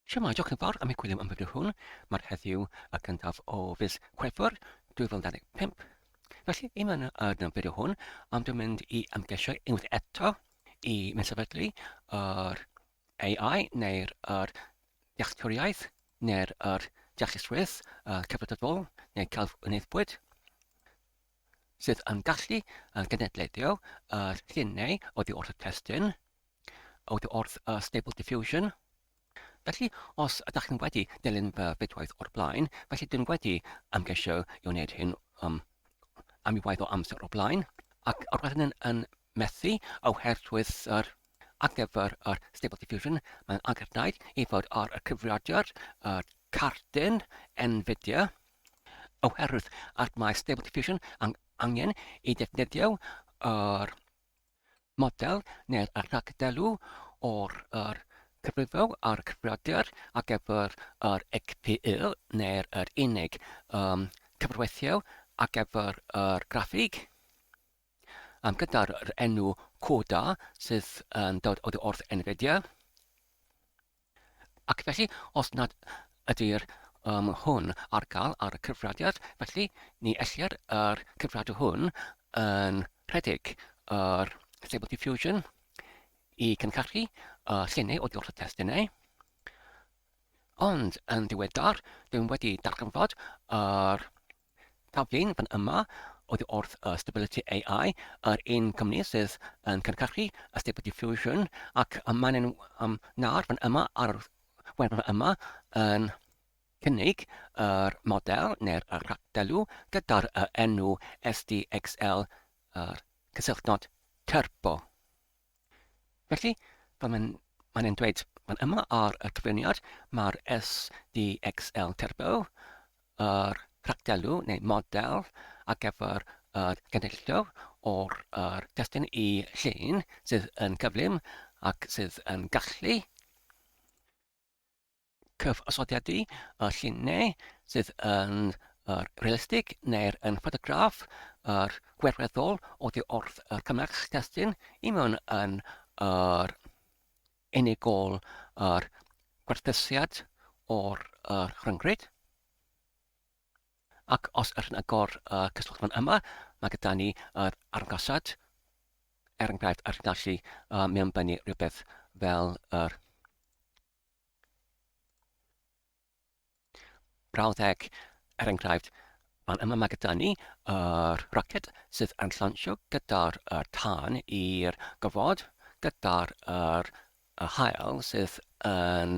Siamai, diolch yn fawr am y gwyliau am fideo hwn. Mae'r heddiw y cyntaf o fis Chwefror 2025. Felly, i mewn yn y fideo hwn, am dwi'n mynd i ymgeisio unwaith eto i mynd sefydlu yr AI neu'r er dealltwriaeth neu'r er deallusrwydd uh, cyfredadol neu celf wneithbwyd. sydd yn gallu yn genedlaethio yr llinau oddi wrth y testun, oddi wrth y Stable Diffusion. Felly, os ydych chi'n wedi dilyn fy fidwaith o'r blaen, felly dwi'n wedi ymgeisio i wneud hyn um, am i waith o amser o'r blaen, ac roedd hynny'n yn methu oherwydd yr ar gyfer yr Stable Diffusion, mae'n angenrhaid i fod ar y cyfrifiadur yr cardyn Nvidia oherwydd ac mae Stable Diffusion yn angen i ddefnyddio yr model neu'r rhagdelw o'r yr cyfrifo ar y cyfrifiadur ar gyfer yr XPU neu'r yr unig um, cyfrweithio ar gyfer yr graffig. um, gyda'r enw coda sydd yn dod oddi wrth NVIDIA. Ac felly, os nad ydy'r um, hwn ar gael ar y cyfradiad, felly ni ellir yr cyfradu hwn yn rhedeg yr Stable Diffusion i cynhyrchu uh, llenau o diolch y testunau. Ond yn diweddar, dwi'n wedi darganfod yr Taflen fan yma oddi wrth y Stability AI, yr un cwmni sydd yn cynhyrchu y Stable Diffusion, ac y maen nhw um, nawr fan yma ar y wefan fan yma yn cynnig yr model neu'r rhagdelw gyda'r enw SDXL, yr cysylltnod turbo. Felly, fel mae'n mae'n e'n dweud fan yma ar y cyflwyniad, mae'r SDXL Turbo, yr rhagdelw neu model ar gyfer yr genedlio o'r yr testun i llun sydd yn cyflym ac sydd yn gallu cyfosodiad i y lluniau sydd yn yr realistig neu'r yn ffotograff yr gwerweddol oddi wrth y cymell testun i mewn yn yr unigol yr gwerthusiad o'r yr rhyngrwyd. Ac os ydyn agor y cyswllt fan yma, mae gyda ni yr argosad, er enghraifft, yr gallu uh, mewnbynnu rhywbeth fel yr Brawddeg, er enghraifft, fan yma mae gyda ni yr roced sydd yn llansio gyda'r er tân i'r gofod, gyda'r er y haul sydd yn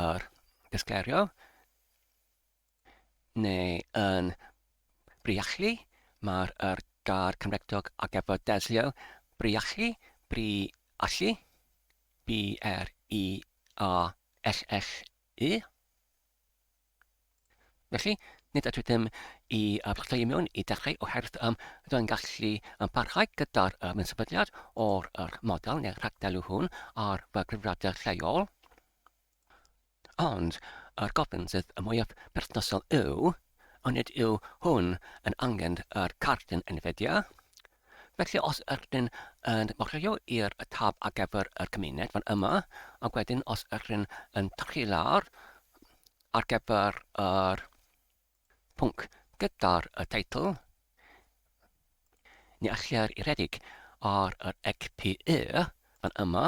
yr disgleirio. neu yn Briallu, mae'r yr gair Cymregdog ar gyfer delio, Briallu, Bri allu, B-R-I-A-L-L-U. Felly, nid ydw i ddim i uh, blodau i mewn i dechrau oherwydd um, rydw i'n gallu um, parhau gyda'r um, sefydliad o'r er, model neu'r rhagdelw hwn ar fy gyfrifiadur lleol. Ond, yr gofyn sydd y mwyaf perthnasol yw, onid yw hwn yn angen yr cardyn Nvidia? Felly os ydych chi'n yn mochreio i'r tab ar gyfer yr cymuned fan yma, ac wedyn os ydych chi'n yn tyrchu lawr ar gyfer yr pwnc gyda'r y teitl, ni allir i redeg ar yr ECPE fan yma,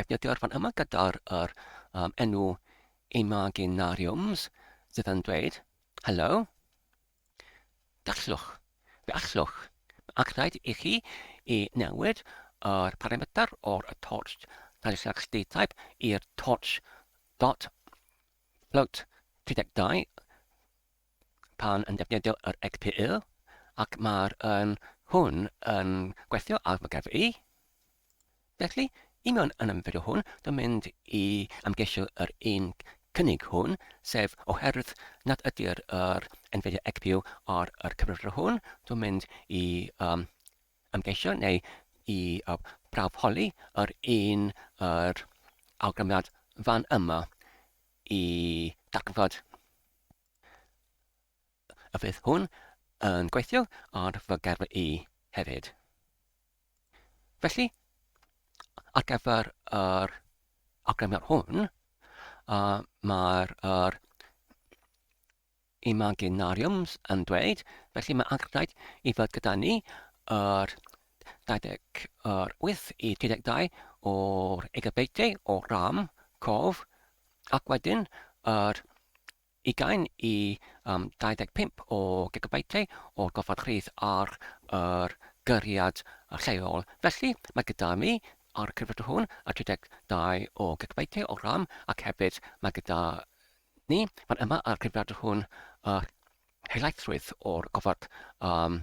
defnyddio'r fan yma gyda'r er, um, enw imaginariums sydd yn dweud, hello, gallwch, fe allwch, ac rhaid i chi i newid yr parametr o'r torch Talisax D-type i'r torch dot float 32 pan yn defnyddio yr XPU ac mae'r yn hwn yn gweithio ar fy gefr i. Felly, i mewn yn y fideo hwn, dwi'n mynd i ymgeisio yr un cynnig hwn, sef oherwydd nad ydy'r yr Nvidia XPU ar yr cyfrifiadur hwn, dwi'n mynd i um, ymgeisio neu i uh, prawf holi yr un yr awgrymiad fan yma i darganfod y fydd hwn yn gweithio ar fy gerfl i hefyd. Felly, ar gyfer yr awgrymiad hwn, uh, mae'r er imaginariums yn dweud, felly mae angerddau i fod gyda ni yr 28 i 32 o'r egabeitiau o ram, cof, Ac wedyn, yr ugain i um, 25 o gigabytau o'r gofod rhydd ar yr gyriad lleol. Felly, mae gyda mi ar y cyfrifiadur hwn y 32 o gigabytau o RAM ac hefyd mae gyda ni fan yma ar y cyfrifiadur hwn y helaethrwydd o'r gofod um,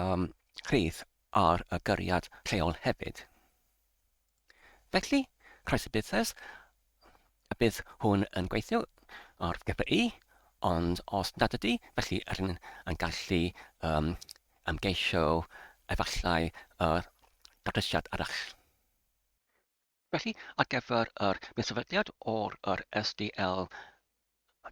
um, rhydd ar y gyriad lleol hefyd. Felly, croeso busnes, y bydd hwn yn gweithio o'r GPI, ond os nad ydy, felly rydyn yn gallu um, ymgeisio efallai yr uh, datrysiad arall. Felly, ar gyfer yr medsefydliad o'r yr SDL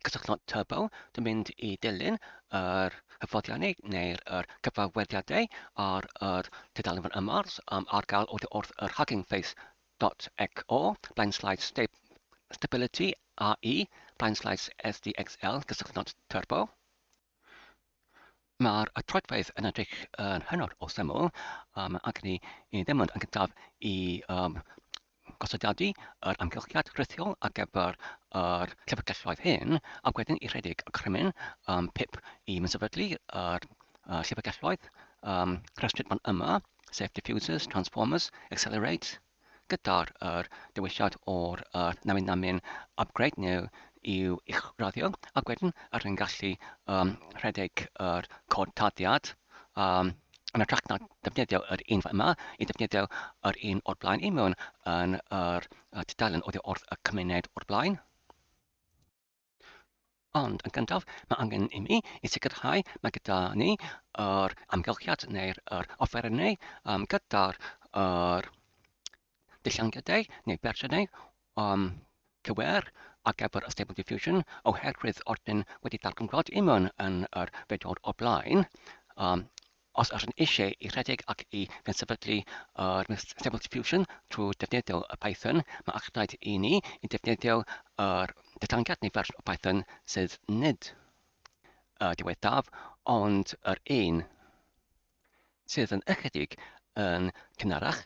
cysylltwch Turbo drwy fynd i dilyn yr hyfforddiannau neu'r yr cyfarwyddiadau ar yr tudalen fan yma um, ar gael oddi wrth yr Hugging Face dot XO, blaen slides stab Stability AE, blaen slides SDXL, cysylltwch Turbo. Mae'r troedfedd yn edrych yn hynod o syml um, ac ni i ddim ond yn gyntaf i um, gosodiadu yr amgylchiad rhithiol ar gyfer yr llyfrgelloedd hyn, ac wedyn i rhedeg y crymyn um, pip i mysefydlu yr uh, llyfrgelloedd um, rhestryd fan yma, sef diffusers, transformers, accelerate, gyda'r yr dewisiad o'r yr namin namin upgrade neu i'w uwchraddio ac wedyn yr hyn gallu um, rhedeg yr cod tarddiad um, yn y trac na defnyddio yr un yma i defnyddio yr un o'r blaen i mewn yn yr tudalen oddi wrth y cymuned o'r blaen. Ond yn gyntaf, mae angen i mi i sicrhau mae gyda ni yr amgylchiad neu'r yr offerynnau um, gyda'r yr dillangiadau neu fersiynau um, cywer ar gyfer y Stable Diffusion oherwydd ordyn wedi darganfod imwn yn yr fedor o blaen. Um, Os ydyn eisiau i redeg ac i gyd-sefydlu yr Stable Diffusion trwy ddefnyddio Python, mae eich rhaid i ni i ddefnyddio yr datganiad neu fersiwn o Python sydd nid y diwethaf ond yr un sydd yn ychydig yn cynharach,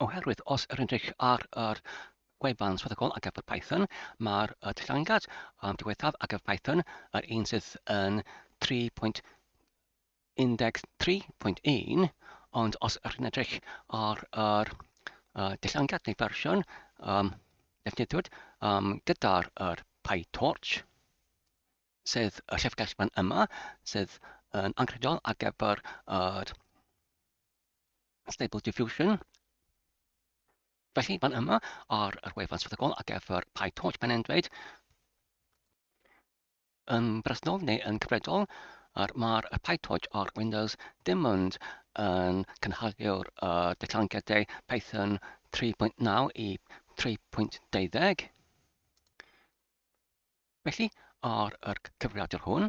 oherwydd os yr edrych ar yr gwefan swyddogol ar gyfer Python, mae'r datganiad um, diwethaf ar gyfer Python yr un sydd yn 3.0 13.1, ond os ydych chi'n edrych ar yr uh, dillangiad neu fersiwn um, defnyddiwyd um, gyda'r er PyTorch, sydd y llyfrgell fan yma, sydd yn anghredol ar gyfer yr Stable Diffusion. Felly, fan yma ar yr wefan swyddogol ar gyfer PyTorch, mae'n dweud yn bresennol neu yn cyfredol a'r mae'r PyTorch ar Windows dim ond yn cynhali'r uh, datblygiadau Python 3.9 i 3.20. Felly, ar yr cyfrifiadur hwn,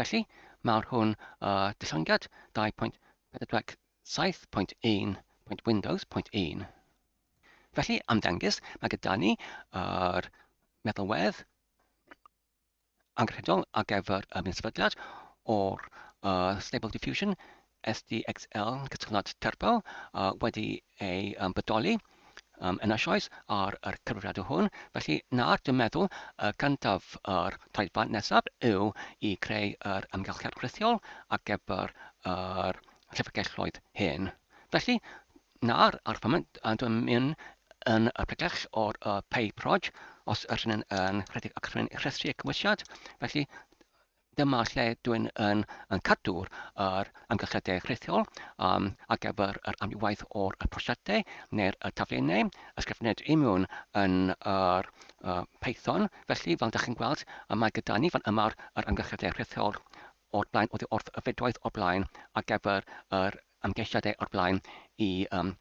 Felly, mae'r hwn y dillangiad 2.47.1.windows.1. Felly, am ddengys, mae gyda ni yr meddalwedd angenrheidiol ar gyfer y minsefydliad o'r uh, Stable Diffusion SDXL cytundeb terfel uh, wedi ei um, bodoli um, yn eisoes ar y cyfrifiadur hwn, felly nawr dwi'n meddwl y cyntaf yr taithfan nesaf yw i creu yr ymgylchiad rhithiol ar gyfer yr llyfrgelloedd hyn. Felly, nawr ar y foment dwi'n mynd yn y pregell o'r uh, pay proj, os ydyn yn rhedeg ac rhywun rhestru y cymwysiad, felly Dyma lle dwi'n yn, yn cadw'r yr amgylchiadau rhithiol um, ar gyfer yr amrywaith o'r y prosiectau neu'r y taflenau ysgrifened i mewn yn yr uh, Python. Felly, fel ydych chi'n gweld, y mae gyda ni fan yma'r yr amgylchiadau rhithiol o'r blaen, oddi wrth y fedwaith o'r blaen ar gyfer yr amgeisiadau o'r blaen i um,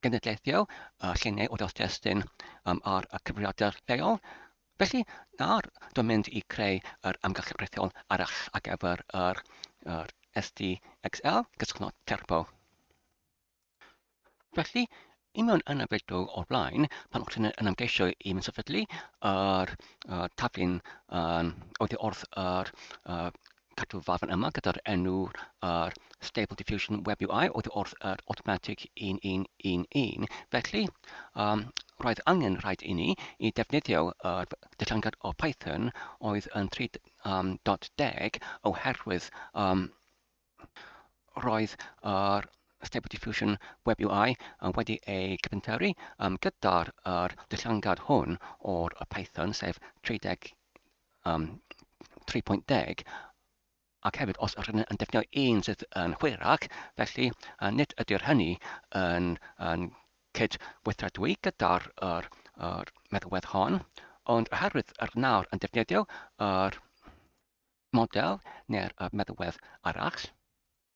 genedlaethol a lluniau o dystysyn um, ar y cyfrifiadur lleol. Felly, nawr, dwi'n mynd i creu yr amgylchedd rhithiol arall ar gyfer yr, yr SDXL, gysgwno terpo. Felly, i mewn yn y fideo o'r blaen, pan o'ch chi'n yn ymgeisio i mynd sefydlu yr uh, taflun um, oddi wrth yr uh, Cadw farn yma gyda'r enw yr Stable Diffusion Web UI oedd wrth yr Automatic 1111. Felly, um, roedd angen rhaid i ni i defnyddio yr dillangad o Python oedd yn 3.10 oherwydd um, roedd yr Stable Diffusion Web UI yn wedi ei cyfynteru um, gyda'r er dillangad hwn o'r Python, sef 31 um, 3.10, ac hefyd os ydyn yn defnyddio un sydd yn hwyrach, felly uh, nid ydy'r hynny yn, yn cyd-weithredwy gyda'r er, er meddwedd hon, ond oherwydd yr nawr yn defnyddio yr er model neu'r er meddwedd arall,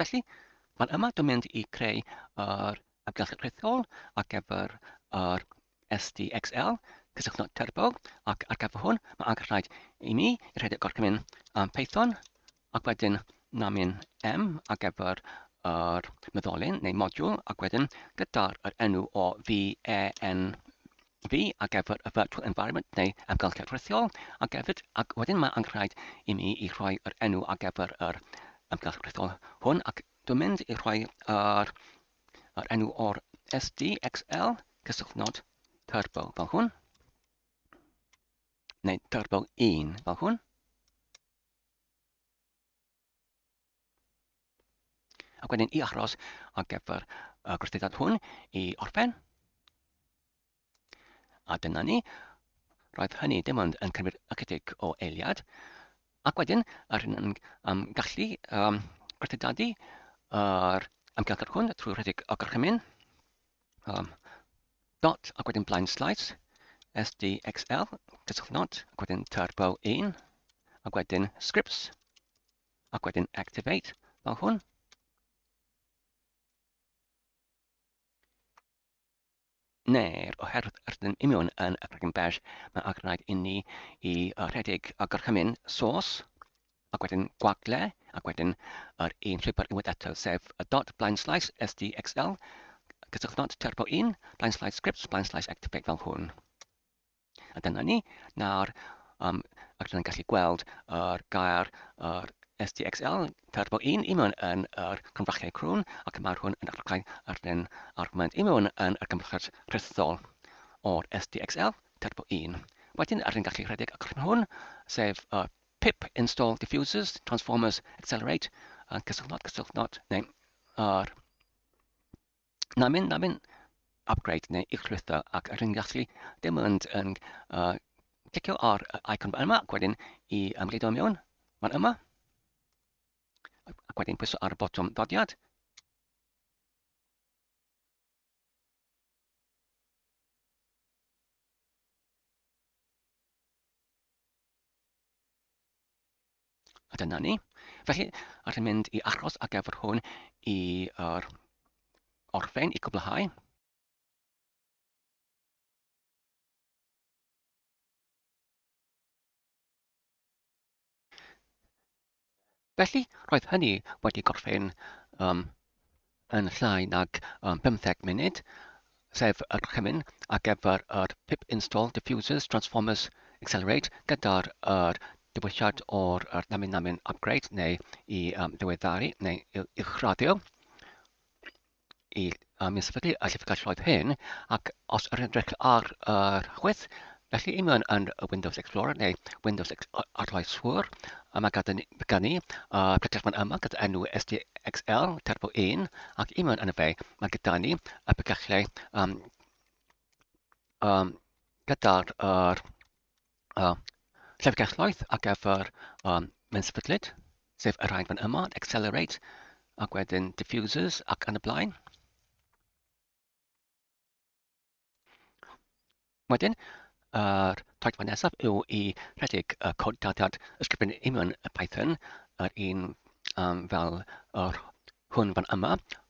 Felly, mae'n yma dwi'n mynd i creu yr amgylchedd rhithiol ar gyfer yr SDXL, cysylltu at Turbo, ac ar gyfer hwn, mae angen rhaid i mi i rhaid y gorchymyn am Python, ac wedyn namin M ar gyfer yr meddolyn neu modiwl, ac wedyn gyda'r enw o VEN fi ar gyfer y virtual environment neu amgylchedd rhithiol, ac hefyd, ac wedyn mae anghraid i mi i rhoi yr enw ar gyfer yr amgylchedd rhithiol hwn, ac dwi'n mynd i rhoi yr, yr enw o'r SDXL cysylltnod turbo fel hwn, neu turbo 1 fel hwn. Ac wedyn i achros ar gyfer y gwrthyddiad hwn i orffen. A dyna ni. Roedd hynny dim ond yn cymryd ychydig o eiliad. Ac wedyn, yr hyn yn um, gallu um, gwerthydadu yr amgylchedd hwn trwy rhedeg o gorchymyn. um, dot ac wedyn blind slice, sdxl, cyswllt not, ac wedyn turbo 1, ac wedyn scripts, ac wedyn activate, fel hwn. Neu'r oherwydd rydym imiwn yn y Cregyn Bash, mae angen i ni i rhedeg a gorchymyn source, ac wedyn gwagle, ac wedyn yr un llwybr unwaith eto, sef y dot blaen slaes sdxl, cysylltnod turbo 1, blaen slaes scripts, blaen slaes activate fel hwn. A dyna ni. Nawr, um, ac rydyn gallu gweld yr uh, gair yr uh, SDXL turbo 1 i mewn yn yr uh, cymrachiau crwn ac mae'r hwn yn archau ar den argument i mewn yn y cymrachod rhithol o'r SDXL turbo 1. Wedyn, rydyn gallu rhedeg y crwn hwn, sef y uh, Pip install diffusers, transformers, accelerate, a cysylltnod, cysylltnod, neu ar namin, namin, upgrade neu i'ch llwytho ac rydyn ni'n gallu dim ond yn uh, clicio ar y icon yma ac wedyn i ymgleido mewn, fan yma, ac wedyn pwyso ar y botwm ddodiad. A dyna ni. Felly, allwn i'n mynd i achos ar gyfer hwn i'r orffen, i gwblhau. Felly, roedd hynny wedi gorffen um, yn llai nag um, 15 munud, sef yr chymyn ar gyfer yr pip install diffusers transformers accelerate gyda'r er, diwylliad o'r er, namin namin upgrade neu i um, ddiweddaru neu i uwchraddio. i um, i sefydlu y llyfrgelloedd hyn, ac os yr edrych ar yr uh, chwith, felly i mewn yn Windows Explorer neu Windows Arloeswr, a mae gan ni uh, pregallfan yma gyda enw SDXL Turbo 1, ac i mewn yn y fe, mae gyda ni y pregallau um, um, gyda'r uh, uh, llyfrgelloedd ar gyfer um, menysefydlyd, sef y rhain fan yma, accelerate, ac wedyn diffusers ac yn y blaen. Wedyn, yr taithfa nesaf yw i rhedeg y cod dadiad ysgrifennu union y Python, yr un um, fel yr hwn fan yma,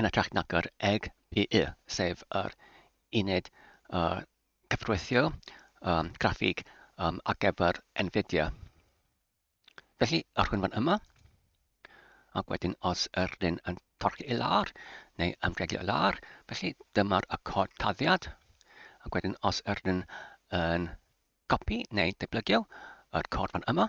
yn hytrach nag yr eg pu, sef yr uned uh, cyfreithio um, graffig um, ar gyfer Nvidia. Felly, yr hwn fan yma, ac wedyn os yr un yn torchi i lawr neu ymdreigio i lawr, felly dyma'r y cod taddiad, ac wedyn os yr un yn copi neu deblygio yr cod fan yma,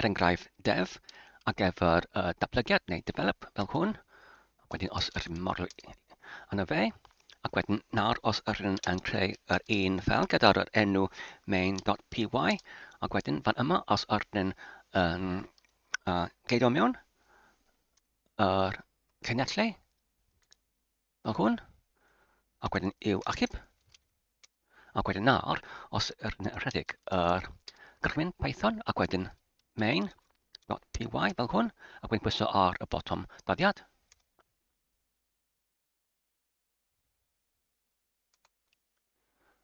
er enghraifft dev ar gyfer y datblygiad neu develop fel hwn ac wedyn os yr un model yna fe ac wedyn nawr os yr un yn creu yr un fel gyda'r yr enw main.py ac wedyn fan yma os yr un yn uh, geidio mewn yr cynnyll fel hwn, ac wedyn i'w achub, ac wedyn nawr, os yr rhedeg yr gychwyn Python, ac wedyn main.py fel hwn, ac wedyn pwyso ar y botwm dyddiad.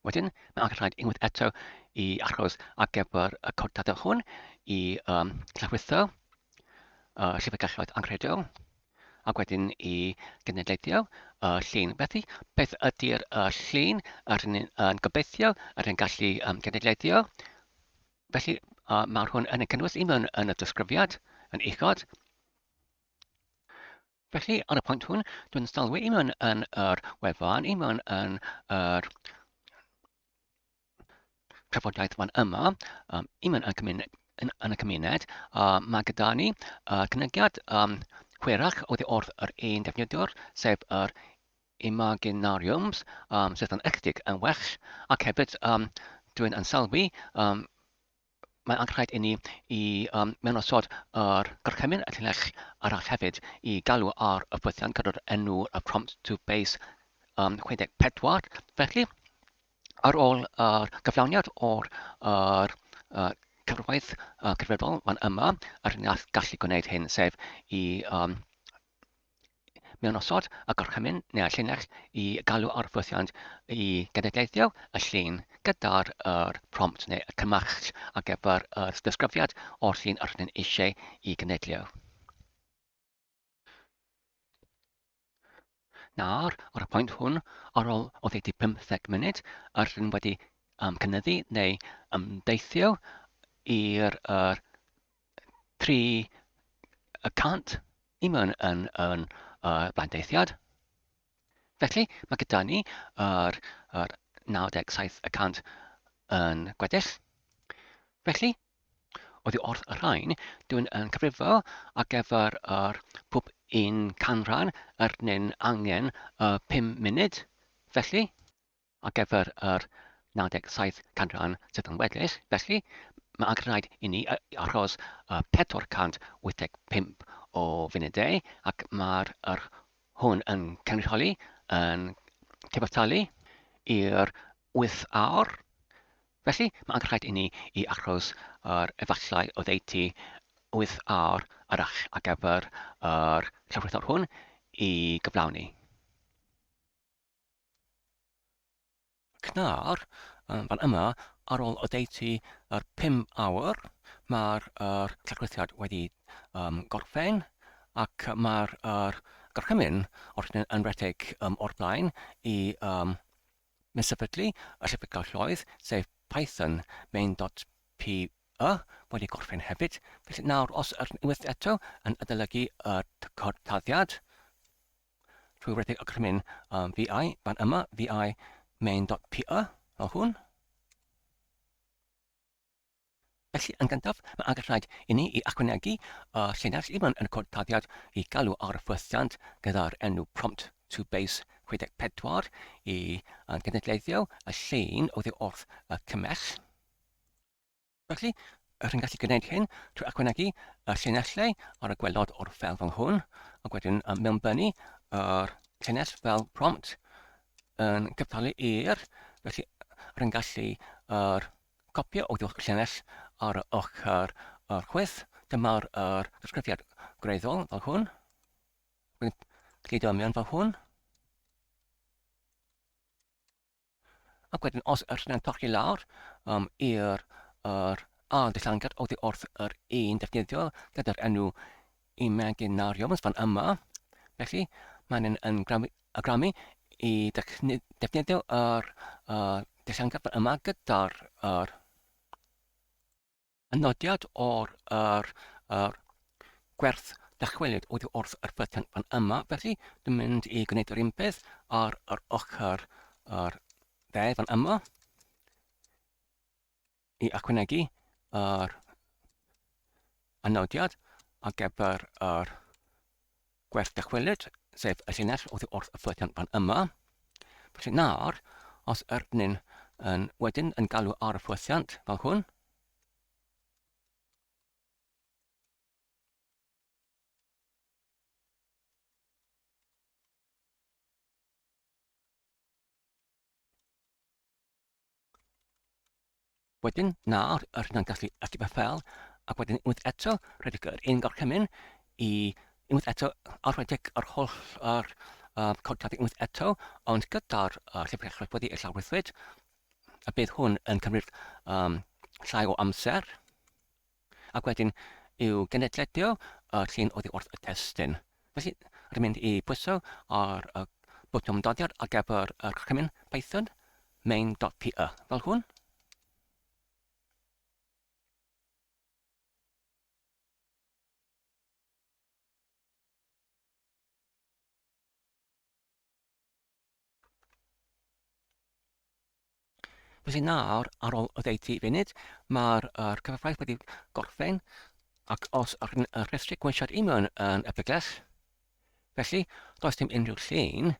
Wedyn, mae angen rhaid unwaith eto i achos ar gyfer y cod data hwn i um, llawrlwytho uh, llyfrgelloedd anghredol ac wedyn i genedlaethio uh, llun. Felly, beth ydy'r uh, llun yr hyn yn gobeithio, yr hyn gallu um, genedlaethio? Felly, uh, mae'r hwn yn y cynnwys un yn y disgrifiad, yn uchod, Felly, ar y pwynt hwn, dwi'n stalwi i mewn yn yr wefan, i mewn yn yr trafodaeth fan yma, um, i mewn yn, cymuned, yn, yn y cymuned, a mae gyda ni uh, cynygiad um, hwyrach oedd wrth yr un defnyddiwr, sef yr imaginariums, um, sydd yn ychydig yn well, ac hefyd um, dwi'n ansalwi um, Mae'n angenrhaid inni i um, mewn osod yr gorchymyn y llinell arall hefyd i galw ar y ffwythiant gyda'r enw y prompt to base um, 64. Felly, ar ôl yr uh, gyflawniad o'r uh, uh, cyfrwaith uh, cyfredol, mae'n yma yr hyn gallu gwneud hyn, sef i um, mewn osod y gorchymyn neu'r llinell i galw ar ffwythiant i genedlaethau y llun gyda'r er prompt neu y cymell ar gyfer y disgrifiad o'r llun yr ydyn eisiau i genedlu. Nawr, ar y pwynt hwn, ar ôl o ddeutu 15 munud, yr ydyn wedi um, cynyddu neu ymdeithio i'r er, tri y cant i mewn yn, yn uh, blandeithiad. Felly, mae gyda ni yr, yr 97 y cant yn gweddill. Felly, oedd i wrth y rhain, dwi'n yn cyfrifo ar gyfer yr pwp un canran yr nyn angen y 5 munud. Felly, Ar gyfer yr 97 canran sydd yn weddill, felly, mae angen rhaid inni achos 485 o funudau ac mae'r yr hwn yn cynrychioli yn cyfartalu i'r 8 awr. Felly, mae angen rhaid inni i achos yr efallai oddeutu 8 awr arall ar gyfer yr llawrythwr hwn i gyflawni. Cnawr, fan yma, ar ôl oddeutu yr 5 awr, mae'r er, llygryddiad wedi um, gorffen ac mae'r er, gorchymyn o'r yn rhedeg um, o'r blaen i um, mesafydlu y llyfrgell lloedd, sef Python main.py wedi gorffen hefyd. Felly nawr, os yr unwaith eto yn adolygu y taddiad, Trwy redeg y crymyn um, vi fan yma, vi main.py, fel hwn. Felly, yn gyntaf, mae angen rhaid i ni i achwynegu y llinell ifan yn y cod taddiad i galw ar y ffwythiant gyda'r enw prompt to base 64 i gynadleddio y llun oddi wrth y cymell. Felly, rwy'n gallu gwneud hyn trwy ychwanegu y llinellau ar y gwelod o'r ffel fel hwn, ac wedyn mewnbynnu yr llinell fel prompt yn cyftalu i'r, felly rwy'n gallu yr copio o ddwch llinell ar y ochr yr chwyth, dyma'r yr ddisgrifiad gwreiddiol fel hwn, rwy'n glido mewn fel hwn, Ac wedyn os yr hynna'n torri lawr um, i'r er, ail dillangad oddi wrth yr un defnyddio gyda'r enw imaginariums fan yma. Felly, mae'n yn, yn gramu i defnyddio yr er, dillangad fan yma gyda'r er, Y nodiad o'r yr, yr gwerth dychwelyd oedd wrth yr button fan yma, felly dwi'n mynd i gwneud yr un peth ar yr ochr yr dde fan yma i achwanegu yr anodiad ar gyfer yr Gwerth dychwelyd, sef y llinell oddi wrth y ffledion fan yma. Felly nawr, os yr ni'n yn wedyn yn galw ar y fflediant fel hwn, Wedyn, nawr, yr hynna'n gallu ychydig beth fel, ac wedyn unwaith eto, rhedeg yr un gorchymyn i unwaith eto a rhedeg yr holl yr, uh, codad unwaith eto, ond gyda'r uh, llyfr echraf wedi ei llawrythwyd, a bydd hwn yn cymryd um, llai o amser. Ac wedyn, i'w genedledio y llun oddi wrth y testun. Felly, rwy'n mynd i bwyso ar y botwm doddiad ar gyfer yr rhemyn Python main.py, fel hwn. Felly nawr, ar ôl y ddeutu funud, mae'r er cyfraith wedi gorffen, ac os ar y rhestri gwynsiad i mewn yn y bygles, felly does dim unrhyw llun.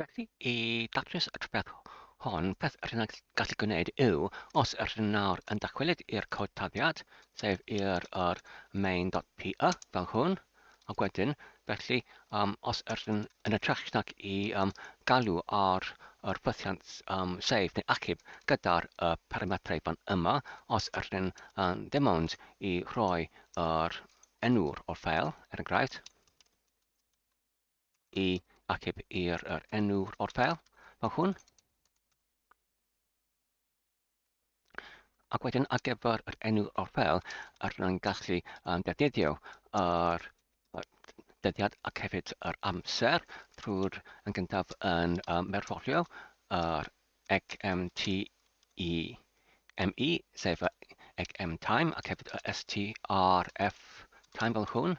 Felly, i datrys y trafferth hon, peth yr hyn gallu gwneud yw, os yr hyn nawr yn dychwelyd i'r cod taddiad, sef i'r er main.py fel hwn, Ac wedyn, felly, um, os ydyn yn y trech nac i um, galw ar yr ffythiant um, sef neu achub gyda'r y parametrau fan yma, os ydyn um, ddim ond i roi yr enw'r o'r ffeil, er enghraifft, i achub i'r yr enw'r o'r ffeil, mae hwn Ac wedyn ar gyfer yr enw o'r fel, ar rwy'n gallu um, defnyddio ar dyddiad ac hefyd yr amser trwy'r yn gyntaf yn um, merfolio yr XMTE ME, sef y XM time ac hefyd y STRF time fel hwn.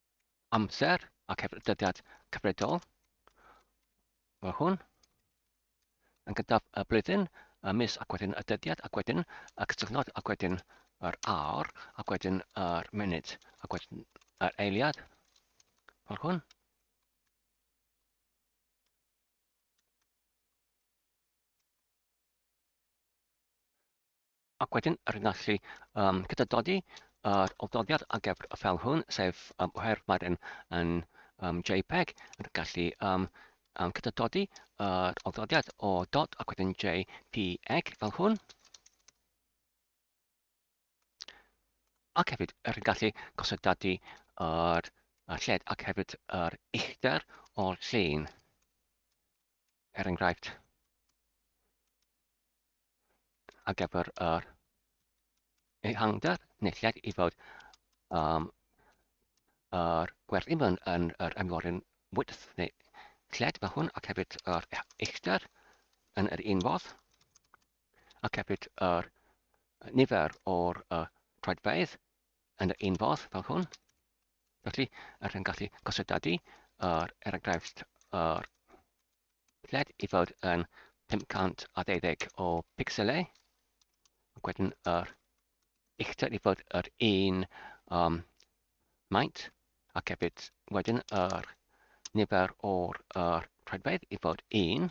amser a cefnyddiad cyfredol. Mae hwn yn gyntaf y blwyddyn, y mis ac wedyn y dyddiad ac wedyn y cysylltnod ac wedyn yr awr ac wedyn yr munud ac wedyn yr eiliad fel hwn. Ac wedyn, yr un allu um, gyda dodi yr oldodiad a gefr y fel hwn, sef um, oherwydd mae'r un yn um, JPEG, yn gallu um, um, gyda dodi yr oldodiad o dot ac wedyn JPEG fel hwn. Ac hefyd, yr un gallu gosod dadu yr, yr lled ac hefyd yr uchder o'r llun. er enghraifft, ar gyfer yr ehangder nethiad i fod um, yr gwerthu mewn yn yr ymwyryn wydth neu lled mae hwn ac hefyd yr uchder yn yr un fodd ac hefyd yr nifer o'r uh, troedfeydd yn yr un fodd fel hwn. Felly, yr hyn gallu gosod ydy, er, er enghraifft, yr lled i fod yn 512 o pixelau, ac wedyn yr uchder i fod yr un um, maint, ac hefyd wedyn yr nifer o'r er, rhedfaidd i fod 1,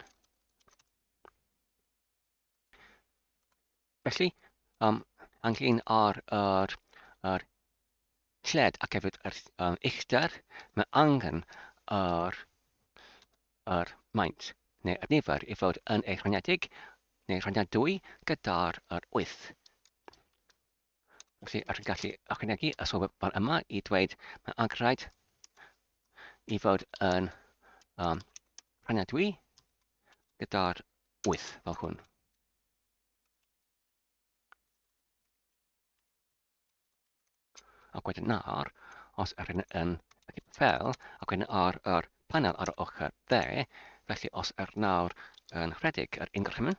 Felly, um, anglyn ar yr, yr lled ac hefyd yr um, uchder, mae angen yr, yr maint neu y nifer i fod yn ei rhaniedig neu rhaniadwy gyda'r 8. Felly, ar yn gallu ychwanegu a sylw fan yma i dweud mae angraid i fod yn um, rhaniadwy gyda'r 8 fel hwn. Ac wedyn nawr, os yr yn yn fel, ac wedyn ar yr panel ar y ochr dde, felly os yr nawr yn rhedeg yr increment,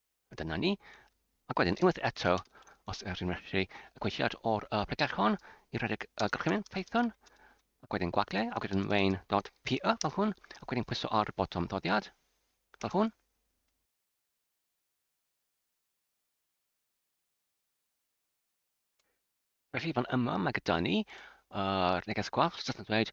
A dyna ni. Ac wedyn, unwaith eto, os ydych chi'n medru gweithiad o'r uh, pregell hon i redeg uh, gorchymyn Python, ac wedyn gwagle, ac wedyn main.py fel hwn, ac wedyn pwyso ar botwm ddoddiad, fel hwn. Felly, fan yma mae gyda ni yr neges gwallt sydd yn dweud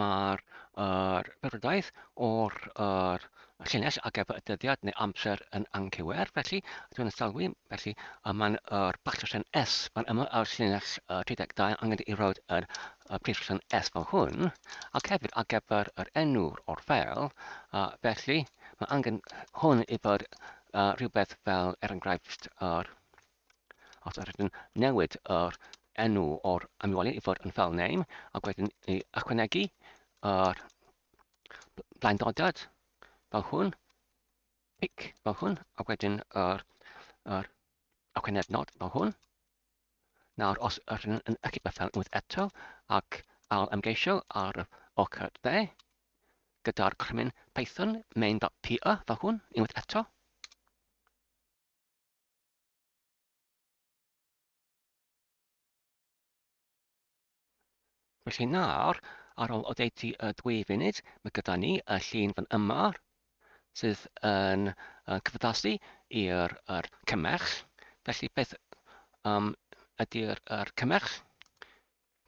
mae'r er, byrwyddaeth o'r er, llinell ar gyfer y dyddiad neu amser yn anghywir. Felly, dwi'n yn sylwi, felly y mae'n yr bach rhan S fan yma ar llinell uh, 32 angen i roed yr uh, prif rhan S fel hwn. Ac hefyd ar gyfer yr enw o'r fel, uh, felly mae angen hwn i fod uh, rhywbeth fel er enghraifft yr er, Os yr ydyn newid yr enw o'r ymweliad i fod yn fel name ac wedyn i ychwanegu yr blaendodiad fel hwn, pic fel hwn, ac wedyn yr, yr ychwaned nod fel hwn. Nawr, os yr ydyn yn ychydig bethau unwaith eto ac al ymgeisio ar y ochr dde, gyda'r crymyn Python main.py fel hwn unwaith eto, Felly nawr, ar ôl oddeutu y dwy funud, mae gyda ni y llun fan yma sydd yn uh, cyfaddasu i'r er cymell. Felly beth um, ydy'r er cymell?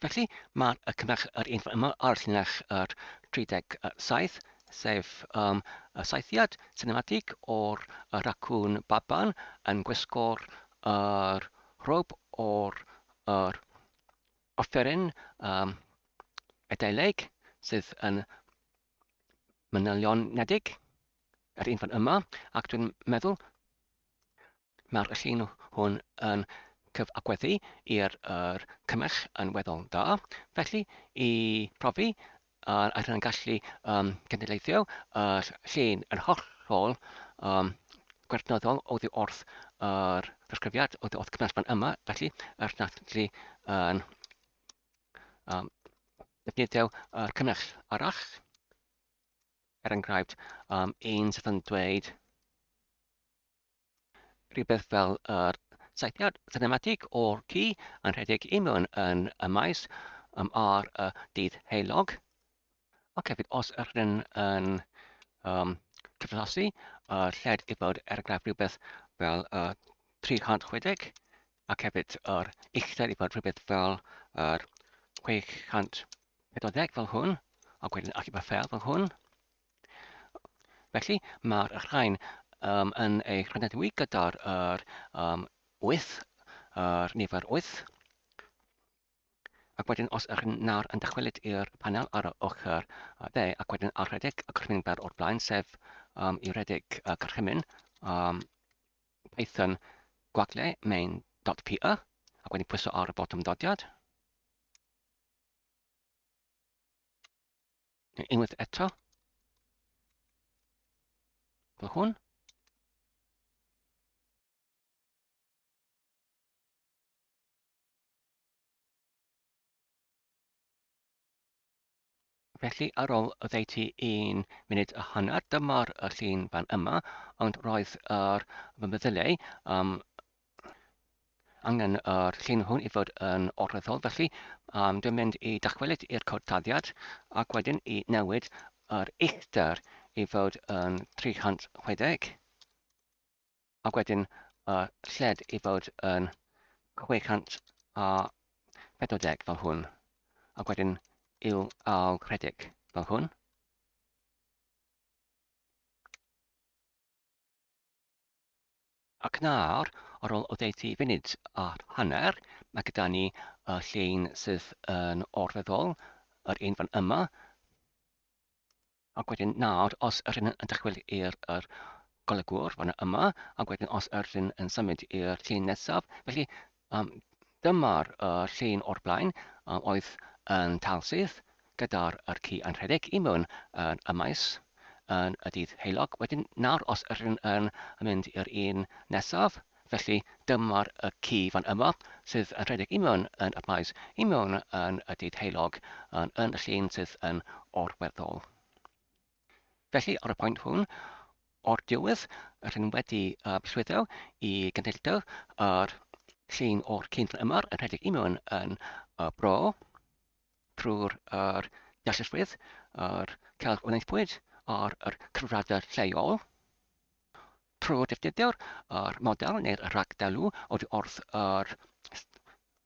Felly, mae y cynnyrch yr un yma ar llinell yr 37, sef um, y saethiad sinematig o'r racwn baban yn gwisgo'r er, rhob o'r er, offeryn um, edeileg sydd yn manylionedig, yr un fan yma, ac dwi'n meddwl Mae'r llun hwn yn cyfathrebu i'r er cymell yn weddol dda. Felly, i profi ar ar hynny'n gallu um, cynheleithio yr llun yn hollol um, gwerthnyddol oddi wrth yr presgrifiad oddi wrth cymell fan yma. Felly, yr natlu yn um, defnyddio yr cymell arall. Er enghraifft, um, un sydd yn dweud rhywbeth fel yr saethiad sinematig o'r ci yn rhedeg i mewn yn y maes um, ar y dydd heulog. Ac hefyd, os yr hyn yn um, cyflasu, y lled i fod er enghraifft rhywbeth fel uh, 360 ac hefyd yr uchder i fod rhywbeth fel yr 640 fel hwn, ac wedyn achub y fel hwn. Felly, mae'r rhain um, yn ei chynyddu gyda'r er, um, 8, yr nifer 8. Ac wedyn, os ych nawr yn dychwelyd i'r panel ar y ochr dde, ac wedyn ar rhedeg y gorchymyn fer o'r blaen, sef um, i rhedeg y gorchymyn um, Python gwagle main.py, ac wedyn pwyso ar y botwm dodiad, Unwaith eto. Fy hwn. Felly ar ôl oddeutu un munud a hanner, dyma'r llun fan yma, ond roedd yr fy meddyliau um, angen yr llun hwn i fod yn olweddol, felly um, dwi'n mynd i dachwelyd i'r cod taddiad ac wedyn i newid yr uchder i fod yn 360 ac wedyn y lled i fod yn 640 fel hwn ac wedyn i'w ail rhedeg fel hwn. Ac nawr, ar ôl oddeutu funud a hanner, mae gyda ni y llun sydd yn orfeddol, yr un fan yma. Ac wedyn nawr, os yr un yn dychwel i'r er golygwr fan yma, ac wedyn os yr un yn symud i'r llun nesaf, felly Um, dyma'r uh, llun o'r blaen um, oedd yn talsyth gyda'r er ci yn rhedeg i mewn yn y maes yn y dydd heilog. Wedyn nawr os ydyn yn mynd i'r un nesaf, felly dyma'r y ci fan yma sydd yn rhedeg i mewn yn y maes i mewn yn y dydd heilog yn, yn y llun sydd yn orweddol. Felly, ar y pwynt hwn, o'r diwedd, rydym wedi uh, llwyddo i gynhyrchu yr llun o'r cyn yma yn rhedeg i mewn yn uh, bro trwy'r er, deallusrwydd, yr celf wnaethpwyd a'r er, cyfradau lleol. Trwy'r defnyddio'r er, model neu'r rhagdelw oddi wrth yr er,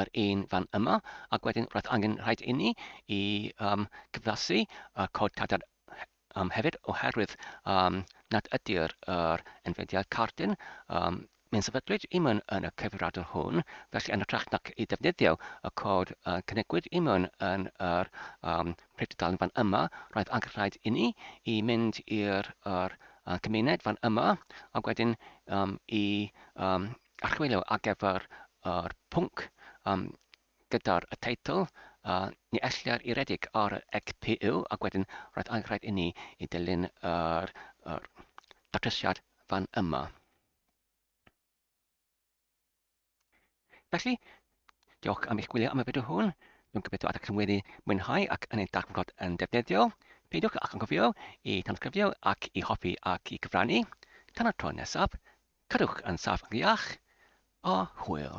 yr un fan yma, ac wedyn roedd angen rhaid inni i um, cyflasu y cod cadar um, hefyd oherwydd um, nad ydy'r er enfediad cardyn um, Mae'n sefydlwyd i mewn yn y cyfrifiadur hwn, felly yn ytrach nac i ddefnyddio y cod uh, cynigwyd i mewn yn yr um, prydydalen fan yma, roedd angen rhaid inni i mynd i'r er, uh, cymuned fan yma, ac wedyn um, i um, archwilio ar gyfer yr pwnc um, gyda'r y teitl uh, ni ellir i redeg ar y ECPU ac wedyn roedd anghraid i ni i dilyn yr, yr datrysiad fan yma. Felly, diolch am eich gwylio am y fideo hwn. Dwi'n gobeithio ydych chi'n wedi mwynhau ac yn ei darfod yn defnyddiol. Peidiwch ac angofio i tanysgrifio ac i hoffi ac i gyfrannu. Tan y tro nesaf, Cadwch yn saff iach a hwyl.